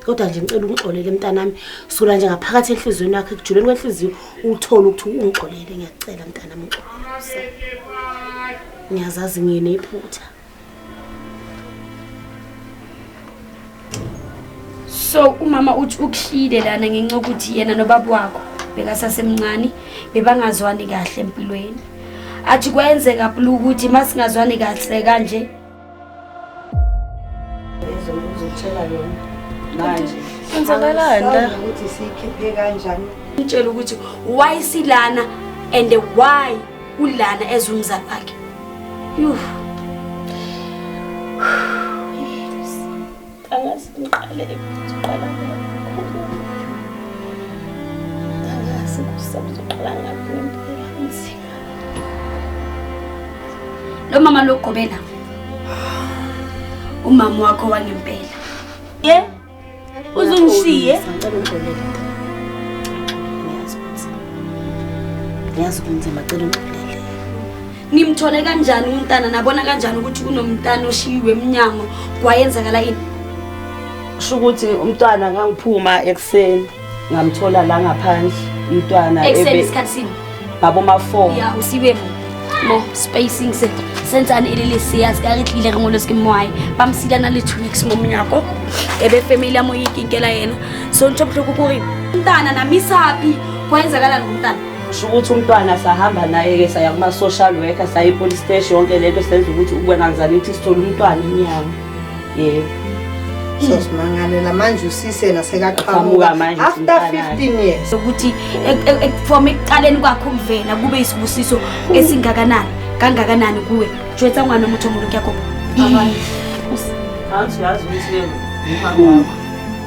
kodwa nje ngicela ungixolele mntanami sula nje ngaphakathi enhliziyweni yakho ekujuleni kwenhliziyo uthole ukuthi ungixolele ngiyacela mntanami ngixolele ngiyazazi nginephutha so umama uthi ukuhlile lana ngenxa yokuthi yena nobaba wakho bekasasemncane bebangazwani kahle empilweni athi kwenzeka plu ukuthi uma singazwani kahle kanje mtshela ukuthi why silana and why ulana ezumzali wakhe Yuh. Angazi ngiqale ngiqala Angazi kusazoqala ngaphi ngempela inzima. Lo mama logobela. Umama wakho wangempela. Yeah. uzungishiye ngicela ungixolele ngiyazi ukuthi ngiyazi kunzima cela ungixolele nimthole kanjani umntana nabona kanjani ukuthi kunomntana oshiyiwe emnyango kwayenzakala ini sho ukuthi umntwana ngangiphuma ekuseni ngamthola la ngaphandle umntwana ekuseni isikhathi sini ngabo ma 4 ya usibe mo spacing se senzani ile lesi yazi ka re tlile re ngolose ke moae ba msida na le 2 weeks mo mnyako ebe family ya mo ikinkela yena so ntho bohloko kore mntana na misapi kwenzakala ngomntana sho ukuthi umntwana sahamba naye ke saya kuma social worker sayi police station yonke lento senza ukuthi ukwenanzani ukuthi sithola umntwana inyanga yebo sozimangalela manje usise nasekaqhamuka manje after 15 years ukuthi ekufoma ekuqaleni kwakho ukuvela kube isibusiso esingakanani kangakanani kuwe jwetsa ngwana omuthi omuntu kuyagoba abantu yazi ukuthi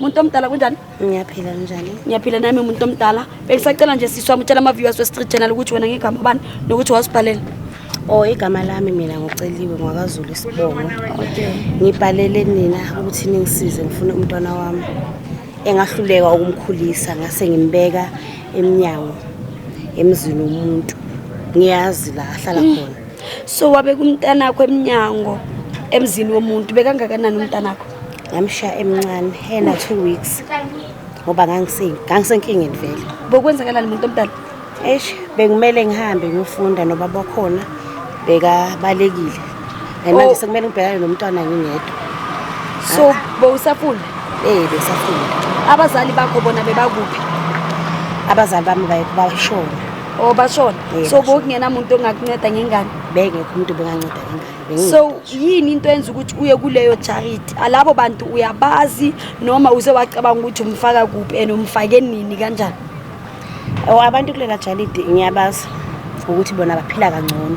Muntu omdala kunjani? Ngiyaphila njani? Ngiyaphila nami muntu omdala. Bengisacela nje sisi wami utshela ama-viewers we-Street Channel ukuthi wena ngegama bani nokuthi wasibhalela. Oh, igama lami mina ngiceliwe ngwakaZulu isibongo. Ngibhalele nina ukuthi ningisize ngifune umntwana wami engahluleka ukumkhulisa ngase ngimbeka emnyango emzini womuntu. Ngiyazi la ahlala mm. khona. So wabe kumntanakho emnyango emzini womuntu bekangakanani umntanakho? ngamshiya emncane ena two weeks ngoba ngangisenkingeni vele bokwenzakalani muntu omdala eish bekumele ngihambe ngiyofunda noba bakhona bekabalekile and manje oh. sekumele ngibhekane nomntwana ngingedwa so bowusafunda eh besafunda abazali bakho bona bebakuphi abazali bami bayashona oh bashona so bokungena muntu ongakunceda ngengane bengekho umuntu benganceda ngengane so yini into enza ukuthi uye kuleyo charity alabo bantu uyabazi noma uze wacabanga ukuthi umfaka kuphi and umfake nini kanjani oh, abantu kulela charity ngiyabazi ukuthi bona baphila kangcono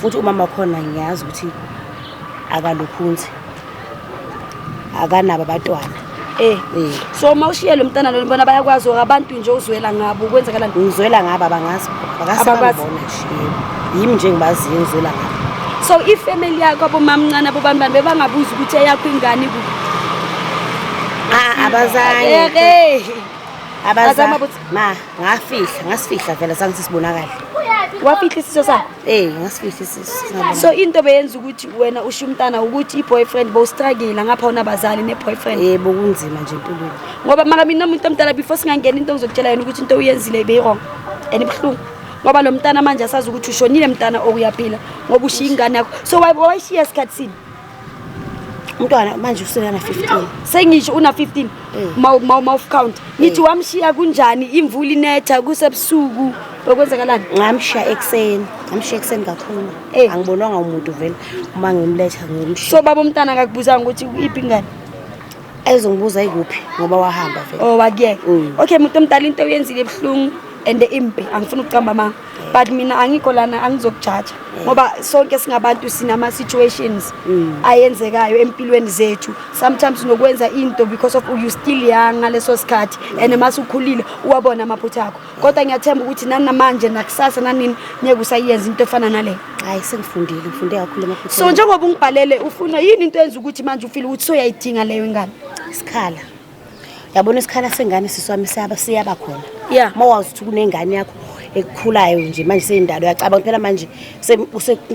futhi umama wakhona ngiyazi ukuthi akalukhunzi akanabo abatwana Eh. eh. So uma ushiye lo mntana lo bona bayakwazi abantu nje uzwela ngabo kwenzekala nto. Ngizwela ngabo abangazi. Abakwazi. Yimi nje ngibazi ngizwela ngabo. So i family yakho abomamncane abobambani bebangabuza ukuthi eyakho ingane ku. Ah abazange. Abazange. Ma, ngafihla, ngasifihla vele sange sisibonakala. Wafihla isiso sa? Eh, ngasifihla isiso. So into beyenza ukuthi wena usho umntana ukuthi iboyfriend bo struggle ngapha ona bazali ne boyfriend. Eh, bokunzima nje impilweni. Ngoba maka mina umuntu omntana before singangena into ngizokutshela yena ukuthi into uyenzile ibe wrong. And ibhlungu. Ngoba lo mntana manje asazi ukuthi ushonile mntana okuyaphila ngoba ushiya ingane yakho. So wayishiya esikhatsini. umntwana manje uselana 15 sengisho una 15 mawuf eh. count ngithi eh. wamshiya kunjani imvula inetha kusebusuku okwenzakalani ngamshiya ekuseni ngamshiya ekuseni kakhulu eh. angibonwanga umuntu vele uma ngimletha ngimshiya so baba umntana akakubuzanga ukuthi iphi ingane ezongibuza ikuphi ngoba wahamba vele oh wakuyeka mm. okay muntu omdala into oyenzile ebuhlungu and impi angifuni ukucamba amanga but mina angikho lana angizokujaja mm. ngoba sonke singabantu sinama situations mm. ayenzekayo empilweni zethu sometimes nokwenza into because of you still young ngaleso sikhathi mm. and mase ukhulile uwabona amaphutha akho kodwa ngiyathemba ukuthi nani namanje nakusasa nanini ngeke usayenza into efana naleyo hayi sengifundile ngifunde kakhulu amaphutha so njengoba ungibhalele ufuna yini into enza ukuthi manje ufile ukuthi soyayidinga leyo ingane isikhala yabona isikhala sengane siswami siyaba siyaba khona yeah uma wazi ukuthi kunengane yakho ekukhulayo nje manje seyindalo uyacabanga phela manje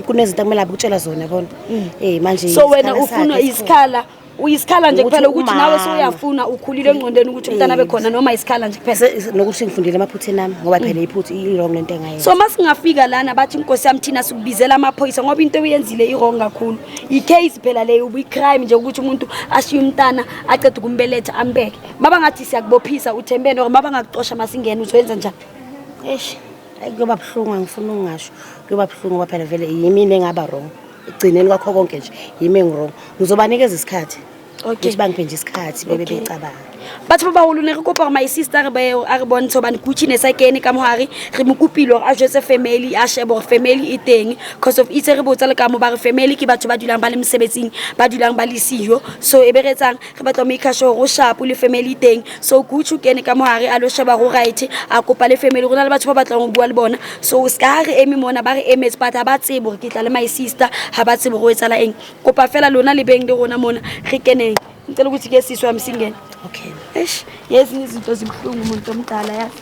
kunezinto akumele abukutshela zona bona mm. eh manje so wena ufuna isikhala uyisikhala nje kuphela ukuthi nawe soyafuna ukhulile engqondweni ukuthi umntana abe khona noma isikhala nje kuphela nokuthi ngifundile amaphutheni ami ngoba mm. phela iphutha i-wrong lento engayenza so masingafika lana bathi inkosi yami thina sikubizela amaphoyisa ngoba into oyenzile i-wrong kakhulu i-case phela leyo ubuyi-crime nje ukuthi umuntu ashiye umntana aceda ukumbeletha ambeke baba ngathi siyakubophisa uthembene or baba ngakuxosha masingena uzoyenza njani eish kuyoba buhlungu angifuni ukungasho kuyoba buhlungu ngoba phela vele yimini engaba wrong ekugcineni kwakho konke nje yimi engiwrong ngizobanikeza isikhathi ukuthi bangiphe nje isikhathi bebe becabanga batho ba baholo ne re kopa gore my sister a re bontshe gobane kuchine sa kene ka mohare re mo kopile gore a jetse family a shebe gore family e teng cause of itse re botsa le ka mo ba re family ke batho ba dulang ba le mosebetsing ba dulang ba le siyo so e be re etsang re batla make sure go shapo le family teng so gucci kene ka mo hare a lo sheba go right a kopa le family go na le batho ba batlang go bua le bona so se ka re eme mona ba re emetse but ha ba tsebo gore ke tla le my sister ha ba tsebo go etsala eng kopa fela lona le beng le rona mona re keneng ngicela ukuthi ke sisi wami singene okay eish yezinye izinto zibuhlungu umuntu omdala yazi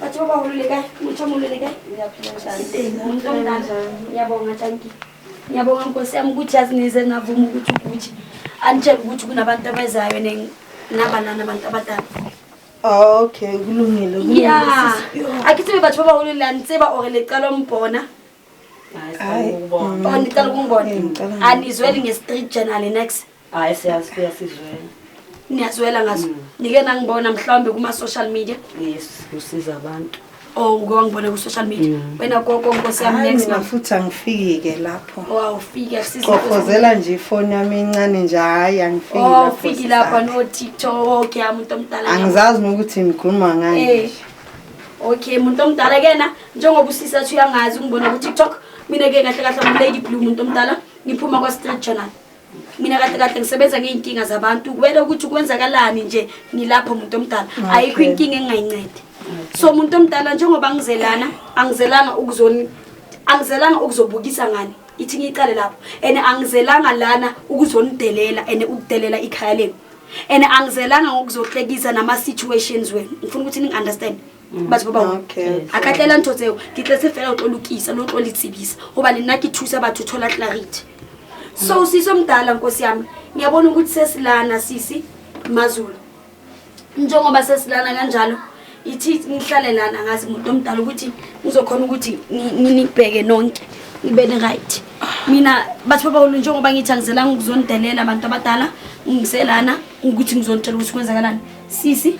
Bathi baba ulule kae? Umuthi omulule kae? Ngiyaphila njani? Umuntu omdala. Ngiyabonga Tanki. Ngiyabonga Nkosi yami ukuthi yazi nize navuma ukuthi ukuthi anitshela ukuthi kunabantu abezayo ne- nabanani abantu abadala. Ah, okay kulungile kulungile Ya. sisi. Yo. Akithi bebathi baba ulule anitseba or lecala umbona. Hayi, Or nicala ukungibona. Ngicela ngibone. Anizweli nge-street journal next. Hayi siyazi kuyasizwela. Niyazwela ngazo. Mm. Nike nangibona mhlawumbe kuma social media. Yes, kusiza abantu. Oh, uke wangibona ku social media. Mm. Wena gogo nkosi yami next month. Futhi angifiki ke lapho. Oh, awufiki asizo. Qoqozela nje ifoni yami incane nje hayi angifiki oh, lapho. Oh, awufiki lapha no TikTok yami umuntu omdala. Angizazi nokuthi ngikhuluma ngani. Eh. Okay, umuntu omdala kena njengoba usisa uyangazi ungibona ku TikTok. Mina ke kahle kahle ngu Lady Blue umuntu omdala. Ngiphuma kwa Street Journal. mina kahle kahle ngisebenza ngey'nkinga zabantu kumele ukuthi kwenzakalani nje ngilapho muntu omdala ayikho inkinga engingayincedi so muntu omdala njengoba ngizelana angizelanga ukuzoni angizelanga ukuzobukisa ngani ithi ngiyiqale lapho and angizelanga lana ukuzonidelela and ukudelela ikhaya lenu and angizelanga ngokuzohlekisa nama-situations wenu ngifuna ukuthi ningi-understand Mm. batho ba bangwe a ka tlela ntho tseo ke tletse fela o tlo lokisa no tlo le tsebisa goba le nna ke thusa batho thola clarity so mm. siso mdala nkosi yami ngiyabona ukuthi sesilana sisi mazulu njengoba sesilana kanjalo ithi ngihlale lana ngazi muntu omdala ukuthi ngizokhona ukuthi nibheke nonke ngibe ni-right mina batho babawulu njengoba ngithi angizelanga ukuzonidelela abantu abadala ngiselana ukuthi ngizonitshela ukuthi kwenzakalani sisi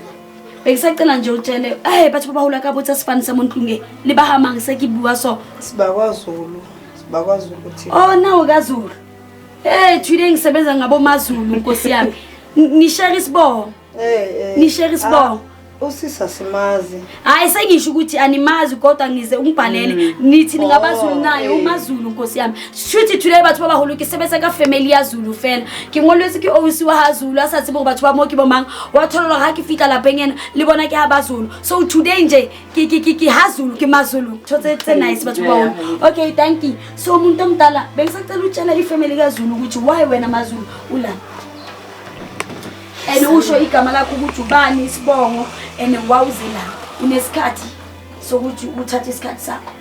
Bekisacela nje utshele eh batho ba hula ka botsa sifani sa montlunge le ba hamang se ke bua so. Sibakwa Zulu. Sibakwa Zulu kuthi. Oh nawo ka Zulu. Eh today ngisebenza ngabo maZulu nkosi yami. Ni share isibongo. Eh eh. Ni share isibongo. Ah, usisa simazi. Hayi sengisho ukuthi animazi kodwa ngize ungibhalele mm. nithi ningabaZulu oh, naye eh. umaZulu nkosi yami. shuthi thule batho ba baholo ke sebetsa ka family ya zulu fela ke ngolwetse ke ousi wa ha zulu a sa tsebe gore batho ba mo ke bomang wa thololo ga ke fitlha lapeng ena le bona ke ha ba zulu so today nje ke ha zulu ke mazulu tho tse tse nice batho ba baholo okay thank you so umuntu omdala bengisacela utshela ifamily kazulu ukuthi why wena mazulu ula and usho igama lakho ukuthi ubani isibongo and wawuze la unesikhathi sokuthi uthathe isikhathi sakho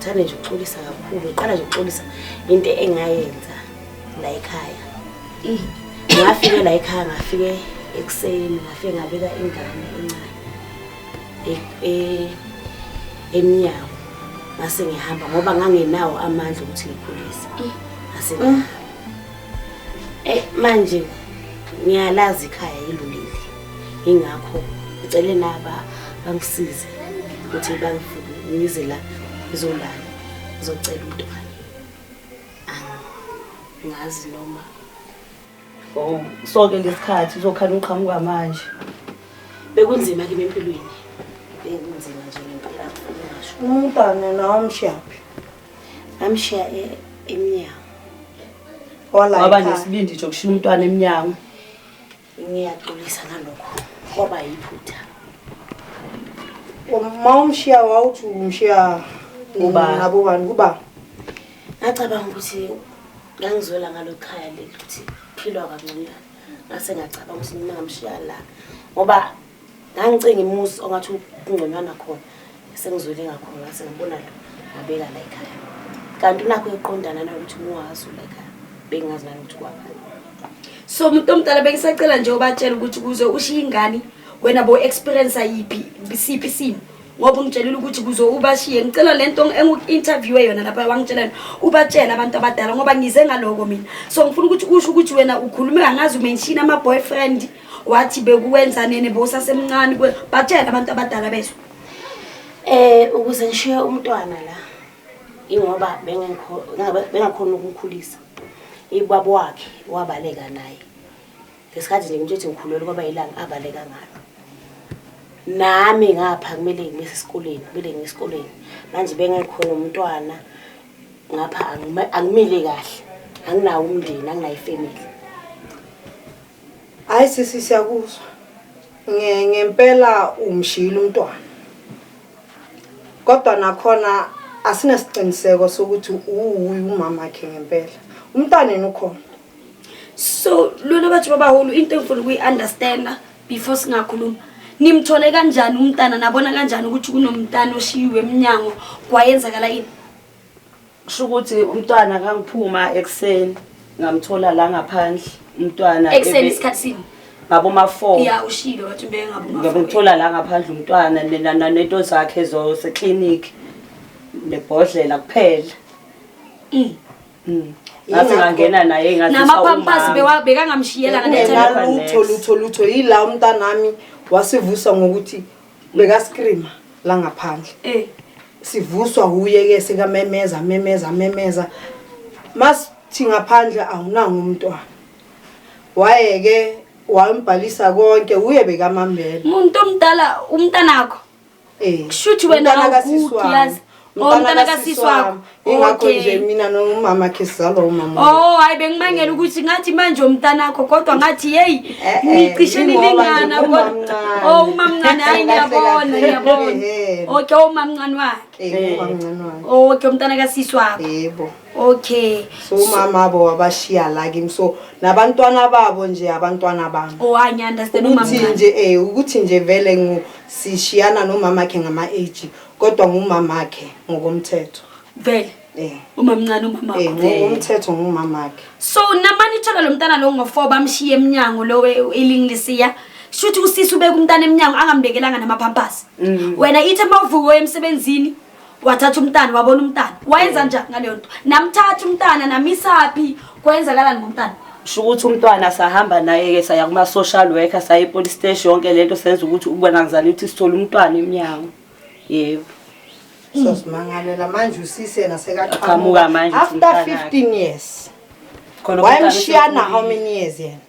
Thanda nje uxolisa kakhulu. Uqala nje uxolisa into engayenza la ekhaya. Ngafike la ekhaya ngafike ekuseni ngafike ngabeka ingane encane. E, e emnyango ngase ngihamba ngoba ngangenawo amandla ukuthi ngikhulise. Ngase mm. Eh manje ngiyalazi ikhaya yilulile. Ingakho ngicele naba bangisize ukuthi bangifuke ngize la ngizolala ngizocela umntwana. Angazi noma Oh, sonke ngesikhathi uzokhala uqhamuka manje. Bekunzima kimi empilweni. Bekunzima nje ngempela ngisho. Umntana nawo mshaphi. ngamshiya e, emnyango waba nesibindi nje okushiya umntwana emnyango ngiyaxolisa ngalokho kwaba yiphutha uma umshiya wawuthi umshiya ngabobani kuba ngacabanga ukuthi ngangizwela ngalo khaya leli ukuthi philwa kangconywana ngase ngacabanga ukuthi mina ngamshiya la ngoba ngangicinga imuzi ongathi kungconywana khona sengizwele ngakhona ngase ngibona lo ngabeka la ekhaya kanti unakho eqondana nalokuthi muwazi la ekhaya bengingazi nanokuthi kwabani so umuntu omdala bengisacela nje ubatshela ukuthi kuze ushiye ingane wena bo experience ayiphi siphi isimo ngoba ungitshelile ukuthi kuze ubashiye ngicela lento engu-interviewe yona lapha wangitshelani ubatshela abantu abadala ngoba ngize ngaloko mina so ngifuna ukuthi usho ukuthi wena ukhulume angazi umenshini ama-boyfriend wathi bekuwenza nini bowusasemncane kuwe batshele abantu abadala bezwe eh ukuze ngishiye umntwana la ingoba bengakhona ukumkhulisa ibaba wakhe wabaleka naye ngesikhathi nje ngitshithe ngikhulelwe kwaba ilanga abaleka ngalo nami ngapha kumele ngibese esikoleni kumele ngiye esikoleni manje bengekhona umntwana ngapha angimile kahle anginawo umndeni anginayo ifamily Hayi sisi siyakuzwa. Nge ngempela umshiyile umntwana. Kodwa nakhona asinasiqiniseko sokuthi uwuyi umama wakhe ngempela. Umntwana yena ukhona. So lona bathi babahulu into engifuna ukuyi-understanda before singakhuluma. Nimthole kanjani umntana nabona kanjani ukuthi kunomntana oshiyiwe emnyango kwayenzakala yini? kusho ukuthi umntwana kangiphuma ekuseni ngamthola la ngaphandle umntwana ekuseni isikhathi sini ngabo ma 4 ya ushilo wathi ube ngabo ma 4 ngimthola la ngaphandle umntwana nena nento zakhe zo se clinic nebhodlela kuphela mm. mm. ngathi ngangena naye ngathi namapampasi bekangamshiyela ngalutho lutho lutho yila umntanami wasivusa ngokuthi Bekaskreama la ngaphandle. Eh. Sivuswa wuye ke sekamemeza amemeza amemeza. Mas thi ngaphandle awunanga umntwana. Wayeke wambhalisa konke uye bekamambela. Umuntu omdala umntanakho. Eh. Kushuthi wena Umntana kasisi awugugi wami. yazi. Oh mntana kasisi wakho. Ingakho nje mina nomama khe sizalwa umama. Oh hayi bengimangela ukuthi ngathi manje umntanakho kodwa ngathi hey eh, eh, nicishe nilingana kodwa. Oh umamncane hayi ngiyabona ngiyabona. Okay umamncane wakhe. Eh umamncane wakhe. Oh, okay umntana kasisi wakho. Yebo. Okay. So umama bo wabashiya la kimi so nabantwana babo nje abantwana bami. Oh I understand umama. Ukuthi nje eh ukuthi nje vele ngu sishiyana nomama khe ngama age. kodwa ngumamakhe ngokomthetho vele eh umamncane umama eh ngokomthetho ngumamakhe so namani ithola lo mntana lo ngo4 bamshiye eminyango lo elingilisiya shuthi usisi ubeka umntana eminyango angambekelanga namapampers mm. wena ithe mawuvuka emsebenzini wathatha umntana wabona umntana wayenza njani ngaleyo nto namthatha umntana namisaphi Kwenzakalani ngomntana? Sho ukuthi umntwana sahamba naye-ke saya kuma-social worker saya epolice station yonke le nto senza ukuthi ukubona ngizani ukuthi sithole umntwana emnyango yebo Sozimangalela manje usisi yena Aqhamuka manje sekaqhamuka. After usimntana. 15 years. Khona umntwana Wayemshiya na sekhulile. how many years yena?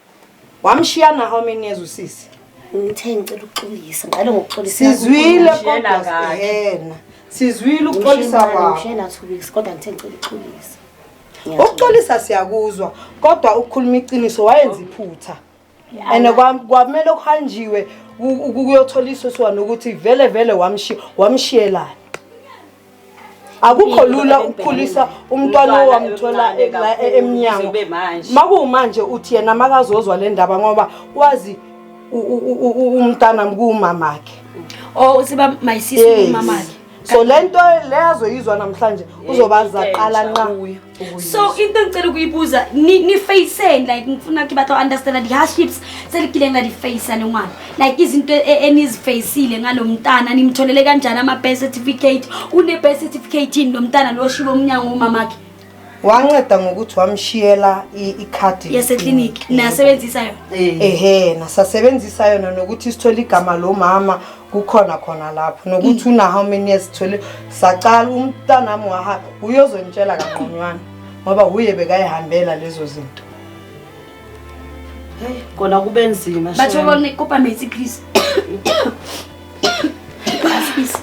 Wamshiya na how many years usisi? Ngithe ngicela ukuxolisa, ngiqale ngokuxolisa. Sizwile kodwa yena. Sizwile ukuxolisa kwakho. Ngishela thubisi kodwa ngithe ngicela ukuxolisa. Ukuxolisa siyakuzwa kodwa ukukhuluma iqiniso wayenza iphutha. And kwamele kuhanjiwe ukuyothola isoso nokuthi vele vele wamshiya wamshiyelana. akukho lula ukukhulisa umntwana owamthola e- la e- emnyango Kube manje. makuwumanje uthi yena makazozwa le ndaba ngoba wazi u- u- u- u- umntana kuwumamakhe o usiba Oh, my sis Yes. umamakhe so le nto le azoyizwa namhlanje uzobaza Into entsha qala nqa kuyo. so into engicela ukuyibuza nifaceni like ngifuna ke batho understanda di-hardships seligile ngadifacea le ngwana like izinto e, enizifacile ngalo mntana nimtholele kanjani ama-birth certificate une-birth certificate yini lo mntana lo shibe umnyango womamakhe wanceda ngokuthi wamshiyela ikhadi yasekliniki nasebenzisa yona ehe nasasebenzisa yona nokuthi sithole igama lo mama kukhona khona lapho nokuthi una how many years thole saqala umntanami waha uyozonitshela kaqonywana ngoba uye bekayihambela lezo zinto kona kube nzima batho lona ikopa metsi please please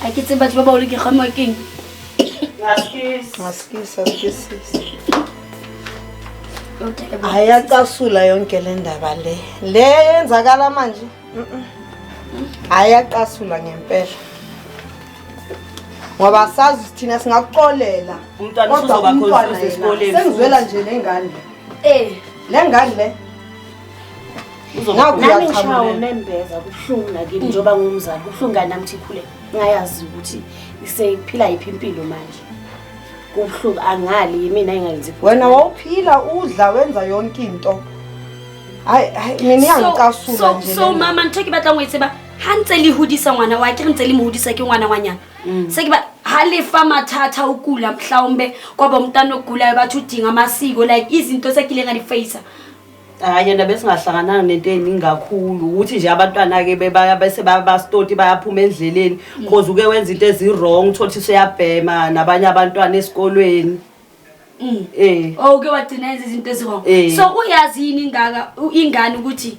a ke tse batho ba baolo ke gama keng ayacasula yonke le ndaba le le yenzakala manje ayacasula ngempela ngoba sazi thina singakuxolela kodwa umntwana yena sengizwela nje nengane Eh, le ngane le. Nami ngishawo nembeza kubuhlungu nakimi mm. njengoba ngumzali kubuhlungu ngani nami thikhule ngayazi ukuthi isephila yiphi impilo manje. Kubuhlungu angali yimina engalenzi. Wena wawuphila udla wenza yonke into. Hayi hayi mina iyangicasula nje. So so mama ngithe ke batla ngwetse ba ha ntse le hodisa ngwana wa ke re ntse le mo hodisa ke ngwana wa nyana. Mm. Sekuba halifa mathatha ukula mhlawumbe kwaba umntana ogulayo bathi udinga amasiko like izinto sekile ngani face. Hayi yena besingahlangananga nento eningi kakhulu ukuthi nje abantwana ke bebaya bese bayabastoti bayaphuma endleleni mm. cause uke wenza into ezi wrong uthola ukuthi uyabhema nabanye abantwana esikolweni. Mm. Eh. Oh uke wagcina izinto ezi wrong. Eh. So uyazi yini ingaka ingane ukuthi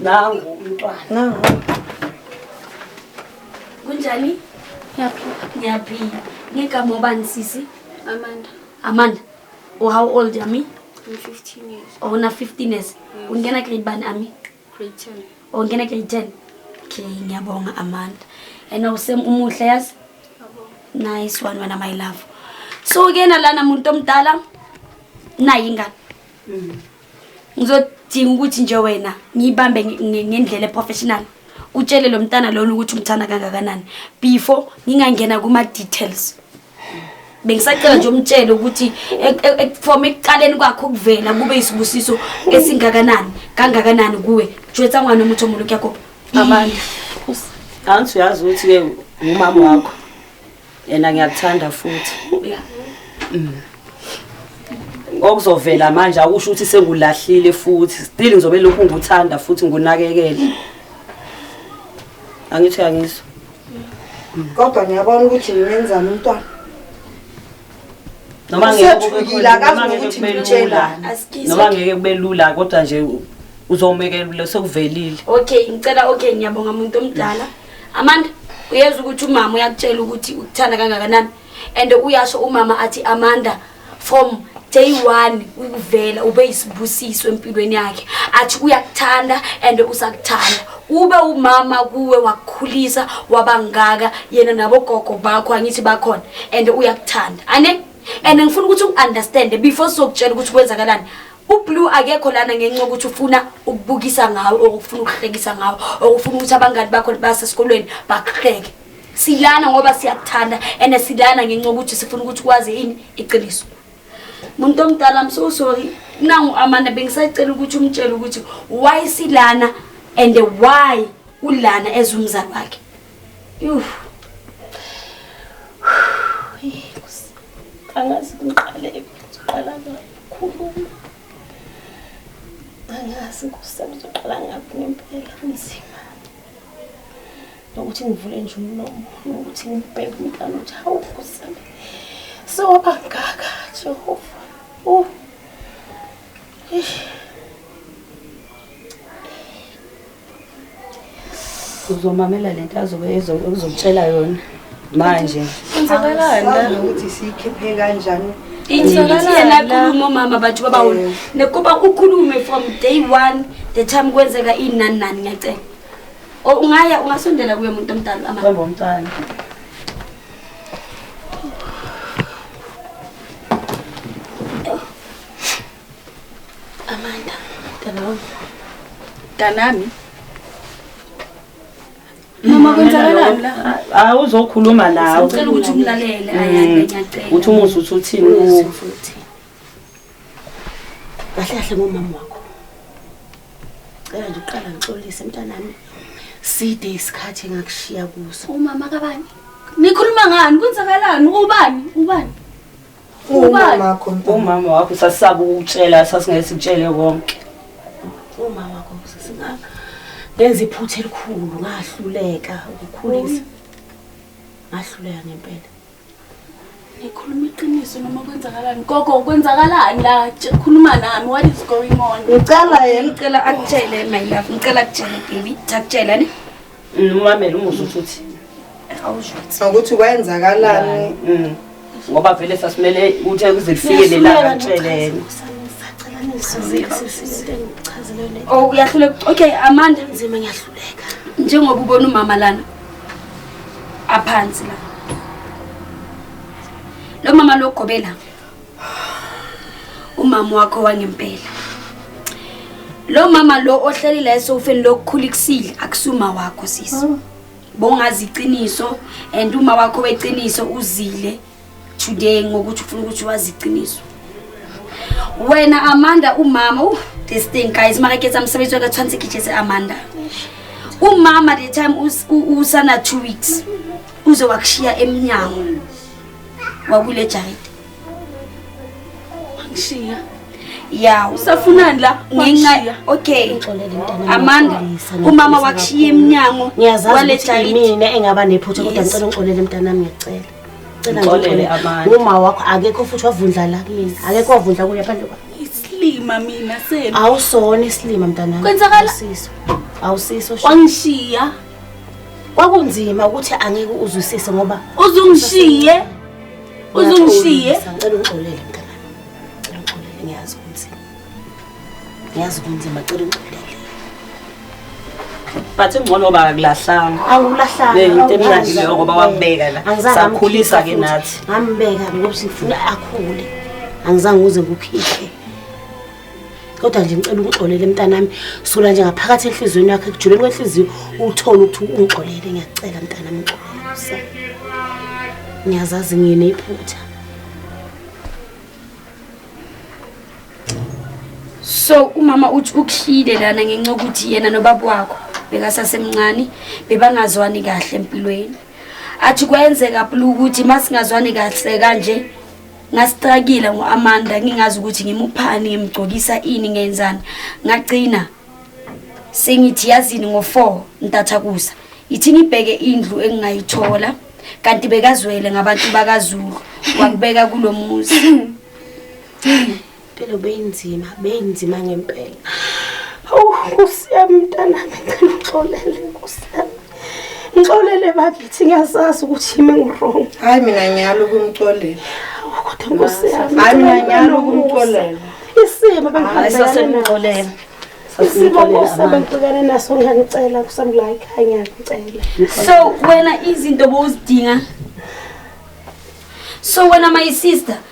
nangu umntwana nangu kunjani ngiyaphila ngiyaphila ngigama obani sisi amanda amanda u oh, how old yami I'm15 years oh na 15 years ungena grade bani ami grade 10 oh ngena grade 10 okay ngiyabonga amanda and awusem umuhle yazi nice one wena my love so ke nalana muntu omdala nayi ingane mm. ngizodinga ukuthi nje wena ngiyibambe ngendlela eprofessional utshele lo mntana lona ukuthi umthanda kangakanani before ngingangena kuma-details bengisacela nje umtshele ukuthi from ekuqaleni kwakhe ukuvela kube isibusiso esingakanani kangakanani kuwe jwetsa ngwana omuthi omuntu kuyakopa abantu angithi uyazi ukuthi-ke ngumama wakho yena ngiyakuthanda futhi mm. okuzovela manje akusho ukuthi sengulahlile futhi still ngizobe lokhu ngikuthanda futhi ngunakekele angithi angiso mm. kodwa ngiyabona ukuthi nginenzani umntwana noma ngeke akazi ukuthi ngitshela noma ngeke kube lula kodwa nje uzomekelule sekuvelile okay ngicela okay ngiyabonga umuntu omdala Amanda uyeza ukuthi umama uyakutshela ukuthi ukuthanda kangakanani and uyasho umama athi Amanda from day one ukuvela ube isibusiso empilweni yakhe athi uyakuthanda and usakuthanda ube umama kuwe wakukhulisa wabangaka yena nabogogo bakho angithi bakhona and uyakuthanda ane and ngifuna ukuthi ungiunderstand before sokutshela ukuthi kwenzakalani ublue akekho lana ngenxa yokuthi ufuna ukubukisa ngawo or ufuna ukuhlekisa ngawo or ufuna ukuthi abangani bakho basesikolweni bakuhleke silana ngoba siyakuthanda and silana ngenxa yokuthi sifuna ukuthi kwazi yini iqiniso muntu omdala i'm so sorry nangu amanda bengisacela ukuthi umtshele ukuthi why silana and why ulana ezumzali wakhe angazi ngiqale ngizoqala ngakhuluma angazi nkosi ngizoqala ngaphi ngempela kunzima nokuthi ngivule nje umlomo nokuthi ngibheke umntana ukuthi hawu nkosi yami sewaba ngaka jehova uh. uzomamela lento azobe ezokutshela yona manje kwenzakalani ukuthi siyikhiphe kanjani injiyena omama bathu babawona eh. nekuba ukhulume from day one the time kwenzeka inani nani ngiyacela ungaya ungasondela kuye muntu omdala amabomntwana Amanda, mntana wami. Mntanami. Mama kwenzakalani la? Hayi uzokhuluma nawe. Ngicela ukuthi umlalele ayande ngiyacela. Uthi umuzi uthi uthini kuwe? Kahle kahle ngomama wakho. Cela nje uqala ngixolise mntanami. Side isikhathi engakushiya kuso. Umama kabani? Nikhuluma ngani? Kwenzakalani? Ubani? Ubani? Umama wakho mntwana. Umama wakho sasisaba ukutshela sasingeke sikutshele konke. Umama wakho sasinga ngenza iphutha elikhulu ngahluleka ukukhulisa. Ngahluleka ngempela. Ngikhuluma iqiniso noma kwenzakalani? Gogo kwenzakalani la? Tsh- Khuluma nami what is going on? Ngicela yena. Ngicela akutshele my love. Ngicela akutshele baby. Ngicela akutshele ne. Ngimamele mm, umuzwa ukuthi uthini. Awushuthi. Ukuthi kwenzakalani? Mm. Ngoba vele sasimele uthe kuze kufike lelanga ntsheleni. Oh uyahluleka. Okay Amanda nzima ngiyahluleka. Njengoba ubona umama lana aphansi la. Lo mama logobela. umama wakho wangempela lo mama lo ohleli la esofeni lokukhula ikusile akusuma wakho sisi oh. bongazi iqiniso and uma wakho weqiniso uzile today ngokuthi ufuna ukuthi wazi iqiniso wena amanda umama uh, this thing guys makaketsa msebenzi waka tshwanetse ke jetse amanda umama the time usana two weeks uze wakushiya emnyango wakule jaride Ngishiya. Ya, usafunani la? Ngenxa okay. Amanda, umama wakushiya eminyango. Ngiyazazi mina engaba nephutha kodwa ngicela ungixolele mntanami ngiyacela. Cela ngixolele Amanda. Uma wakho akekho futhi wavundla la kimi. Akekho wavundla kuye phandle kwa. Isilima mina senu. Awusona isilima mntanami. Kwenzakala. Awusiso. Awusiso. Wangishiya. Kwakunzima ukuthi angeke uzwisise ngoba uzungishiye. uzungishiye ngicela ungixolele mntana ngicela ungixolele ngiyazi kunzima ngiyazi kunzima ngicela ungixolele but ingcono ba akulahlanga awulahlanga into emnandi leyo ngoba wambeka la sakhulisa ke nathi ngambeka ngoba sifuna akhule angizange uze ngukhihle kodwa nje ngicela ungixolele mntanami sula nje ngaphakathi enhliziyweni yakho ekujuleni kwenhliziyo uthole ukuthi ungixolele ngiyacela mntanami ngixolele ngiyazazi ngine iphutha so umama uthi ukhile lana ngenxa ukuthi yena nobaba wakho bekasasemncane bebangazwani kahle empilweni athi kwenzeka plu ukuthi masingazwani kahle kanje Ngasicakile ngo-Amanda ngingazi ukuthi ngimuphani ngimgcokisa ini ngenzani. Ngagcina sengithi yazini ngo-4 ntathakusa. Ithi ngibheke indlu engingayithola kanti bekazwele ngabantu bakaZulu wakubeka kulomuzi. Impilo beyinzima, beyinzima ngempela. Awu Nkosi yami mntanami ngicela uxolele Nkosi yami. Ngixolele bakithi ngiyazazi ukuthi yimi ngirong. Hayi mina ngiyalo kumxolela. Kodwa Nkosi yami. Hayi mina ngiyalo kumxolela. Isimo bengihambela. Sasemxolela. Isimo Nkosi yami ngibhekane naso ngiyangicela kusami la ekhaya ngiyangicela. So wena izinto bowuzidinga. So wena my sister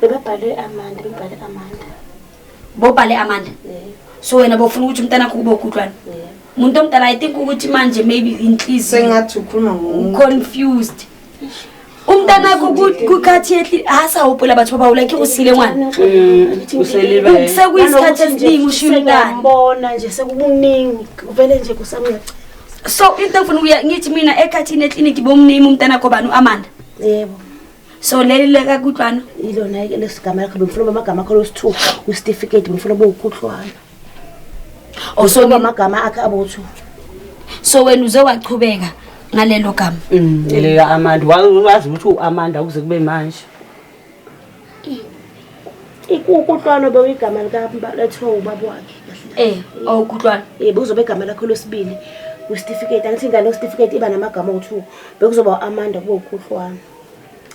Bebebhale Amanda, bebebhale Amanda. Bobhale Amanda. Yebo. So wena bofuna ukuthi umntana wakho kube ugudlwana. Yebo. Umuntu omdala I think ukuthi manje maybe inhliziyo Sengathi ukhuluma ngomuntu. confused. Umntana wakho ku- kukhathi yehli hasa upula bathu baba ulike usile ngwana. Mm, uselibele Sekuyisikhathi esiningi ushiya umntana. Ngiyambona nje sekukuningi uvele nje kusamncane. So into engifuna ukuya ngithi mina ekhathini eclinic bomname umntana wakho bani uAmanda. Yebo. so leli leka kutwana ilona ke lesigama lakho bengifuna uba amagama akho losithu kwisitifiketi bengifuna uba ukhuhlwana oh, so uba amagama akhe abothu so wena uze wachubeka ngalelo gama mm, lelo amanda wazi ukuthi u-amanda ukuze kube manje Ukutlwano bewuyigama likaMbaletho ubaba wakhe kahle. Eh, oh ukutlwano. Eh, bekuzobe igama lakho losibili kwisitifiketi. Angithi ingane yesitifiketi iba namagama owu-2. Bekuzoba u-Amanda kube ukutlwano.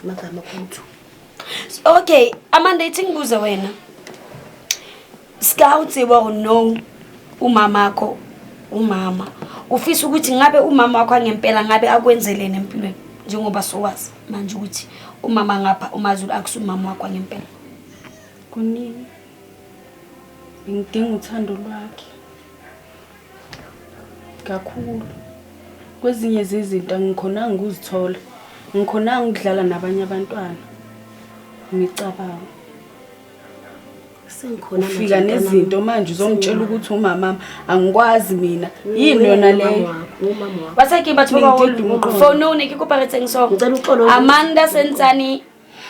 Amagama owu-2. Okay, Amanda ithi ngibuze wena. Sika utsiba or no umama akho umama ufisa ukuthi ngabe umama wakho angempela ngabe akwenzelene empilweni njengoba sowazi manje ukuthi umama ngapha umazulu akusumama wakho ngempela kunini ngidinga uthando lwakhe kakhulu kwezinye zezinto angikhonanga ukuzithola ngikhonanga ukudlala nabanye abantwana ngicabanga sengikhona ufika nezinto manje uzongitshela ukuthi umamami angikwazi mina yini yona leyo basake batho bafonone ke kopa re tseng so amanda sentsane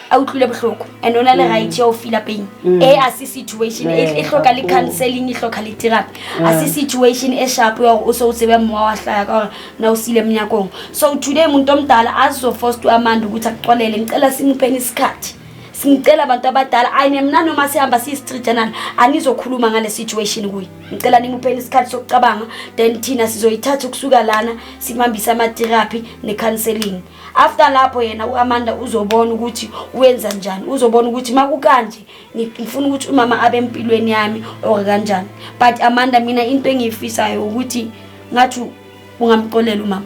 a utlwile bohloko and ona le mm. right ya o feel pain mm. e a se situation e, e hloka le counseling e hloka le therapy a se situation e sharp ya o so o tsebe mmoa wa hlaya ka na o sile mnyakong so today muntu omdala azo forced to amanda ukuthi akuxolele ngicela simuphe isikhathi singicela abantu abadala ayi nemna noma sihamba siyi-street journal anizokhuluma ngale situation kuye ngicela nimupheni isikhathi sokucabanga then thina sizoyithatha ukusuka lana simhambise ama-therapy ne-counseling after lapho yena u-amanda uzobona ukuthi uwenza njani uzobona ukuthi uma kukanje ngifuna ukuthi umama abe empilweni yami or kanjani but amanda mina into engiyifisayo ukuthi ngathi ungamxolela umama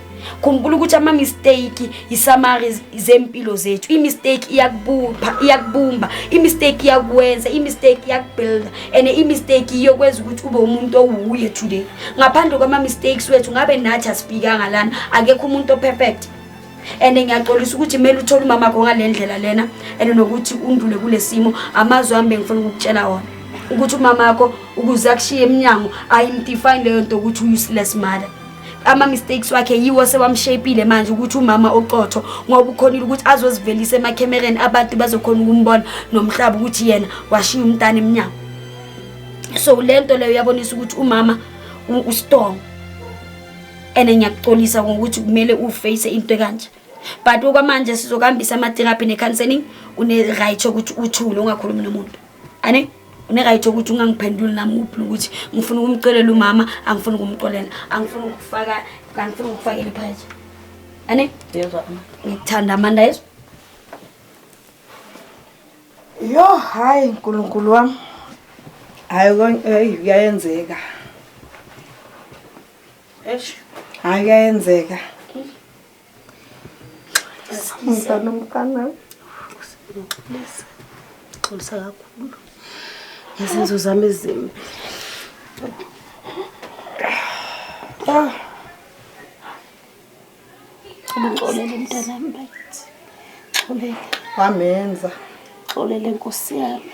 khumbula ukuthi ama-mistake yisamari zempilo zethu i-mistake iyakubupha iyakubumba i-mistake iyakwenza i-mistake iyakubuilda and i-mistake iyokwenza ukuthi ube umuntu owuye today ngaphandle kwama-mistakes wethu ngabe nathi asifikanga lana akekho umuntu operfect and ngiyaxolisa ukuthi kumele uthole umama kho ngale ndlela lena and nokuthi undlule kule simo amazwi ami bengifuna ukukutshela wona ukuthi umama wakho ukuze akushiye emnyango ayimdefine leyo nto ukuthi uyi-useless mother ama-mistakes wakhe yiwo sewamshapile manje ukuthi umama ocotho ngoba ukhonile ukuthi azozivelisa emakhemereni abantu bazokhona ukumbona nomhlaba ukuthi yena washiya umntana emnyango so le nto leyo uyabonisa ukuthi umama ustrong and ngiyakuxolisa ngokuthi kumele uface into ekanje but okwamanje sizokuhambisa ama-therapy ne-counseling une-right yokuthi uthule ungakhulumi nomuntu ane unerayithi ukuthi ungangiphenduli nami uphula ukuthi ngifuna ukumcelela umama angifuni ukumxolela angifuni ukufaka angifuni ukufakela iphayetha ani ngikuthanda amanda yeso yo hayi nkulunkulu wam hayi kuyayenzeka hayi kuyayenzeka Mntwana mntwana. Ngixolisa. Ngixolisa kakhulu. Ngezenzo zami ezimbi. Ah. Ngixolele mntanami bakithi. Ngixolele. Wamenza. Ngixolele Nkosi yami.